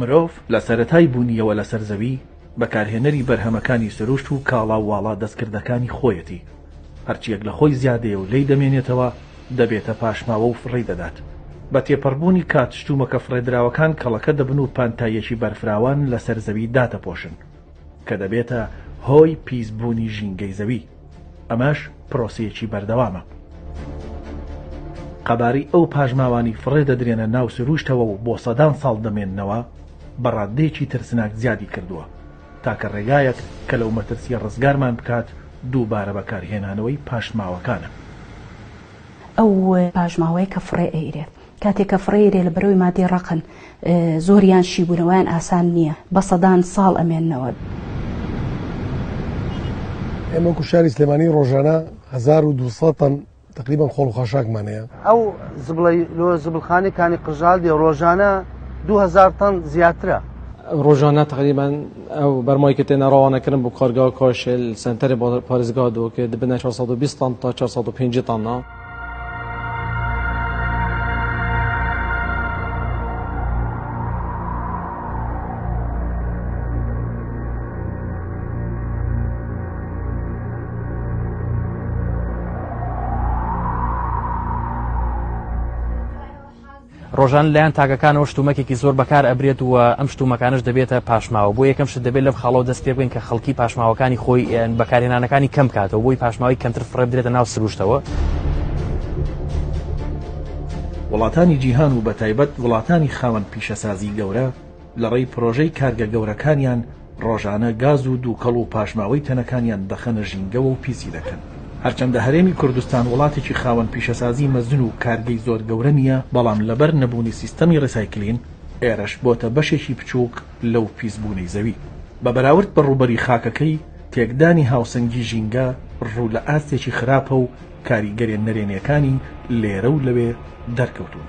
مرۆڤ لە سەرەتای بوونیەوە لەسەر زەوی بەکارهێنەری بەرهەمەکانی سروشت و کاڵا و واڵا دەستکردەکانی خۆیەتی. هەرچیەک لە خۆی زیادەیە و لێی دەمێنێتەوە دەبێتە پاشماوە و فڕێی دەدات. بە تێپەڕبوونی کات شتومەکە فڕێدراوەکان کەڵەکە دەبن و پانتاییەکی بەرفراوان لەسەر زەوی دادەپۆشن کە دەبێتە هۆی پیسبوونی ژینگەی زەوی. ئەمەش پرۆسەیەکی بەردەوامە. قەبارەی ئەو پاژماوانەی فڕێ دەدرێنە ناو سرووشتەوە و بۆ سەدان ساڵ دەمێننەوە بە ڕاددەیەکی ترسناک زیادی کردووە. تاکە ڕێگایەک کە لەو مەترسییە ڕزگارمان بکات دووبارە بەکارهێنانەوەی پاشماوەکانە. ئەو پاشماوەیە کە فڕێ ئەیرێ کاتێک کە فڕێ ئەیرێ لە بەرەوی مادی ڕەقن زۆریان شیبوونەوەیان ئاسان نییە بە سەدان ساڵ ئەمێننەوە. ئێمە وەکو شاری سلێمانی ڕۆژانە هەزار و دوو سەد تەن تقریبا خۆڵ و خاشاکمان هەیە. ئەو زبڵەی لۆ زبڵخانەی کانی قژال دێ ڕۆژانە دوو هەزار تەن زیاترە. ڕۆژانە تقریبا ئەو بەرمای کە تێنە ڕەوانەکردن بۆ کارگا کاشێل سەنتەرێ بۆ پارێزگا دۆ کە دبنە 420 تەن تا 450 تەنە. ڕۆژان لایەن تاکەکانەوە شتومەکێکی زۆر بەکار ئەبرێت و ئەم شتومەکانش دەبێتە پاشماوە بۆ یەکەم شت دەبێت لەم خاڵەوە دەست پێ بگەین کە خەڵکی پاشماوەکانی خۆی بەکارهێنانەکانی کەم کاتەوە بۆی پاشماوی کەمتر فڕێ بدرێتە ناو سروشتەوە. وڵاتانی جیهان و بە تایبەت وڵاتانی خاوەن پیشەسازی گەورە لەڕێی پرۆژەی کارگە گەورەکانیان ڕۆژانە گاز و دووکەڵ و پاشماوەی تەنەکانیان دەخەنە ژینگەوە و پیسی دەکەن. هەرچەندە هەرێمی کوردستان وڵاتێکی خاوەن پیشەسازی مەزن و کارگەی زۆر گەورە نییە، بەڵام لەبەر نەبوونی سیستەمی ڕیسایکلین، ئێرەش بۆتە بەشێکی بچووک لەو پیسبوونەی زەوی. بە بەراورد بە ڕووبەری خاکەکەی، تێکدانی هاوسەنگی ژینگە ڕوو لە ئاستێکی خراپە و کاریگەرێ نەرێنییەکانی لێرە و لەوێ دەرکەوتوون.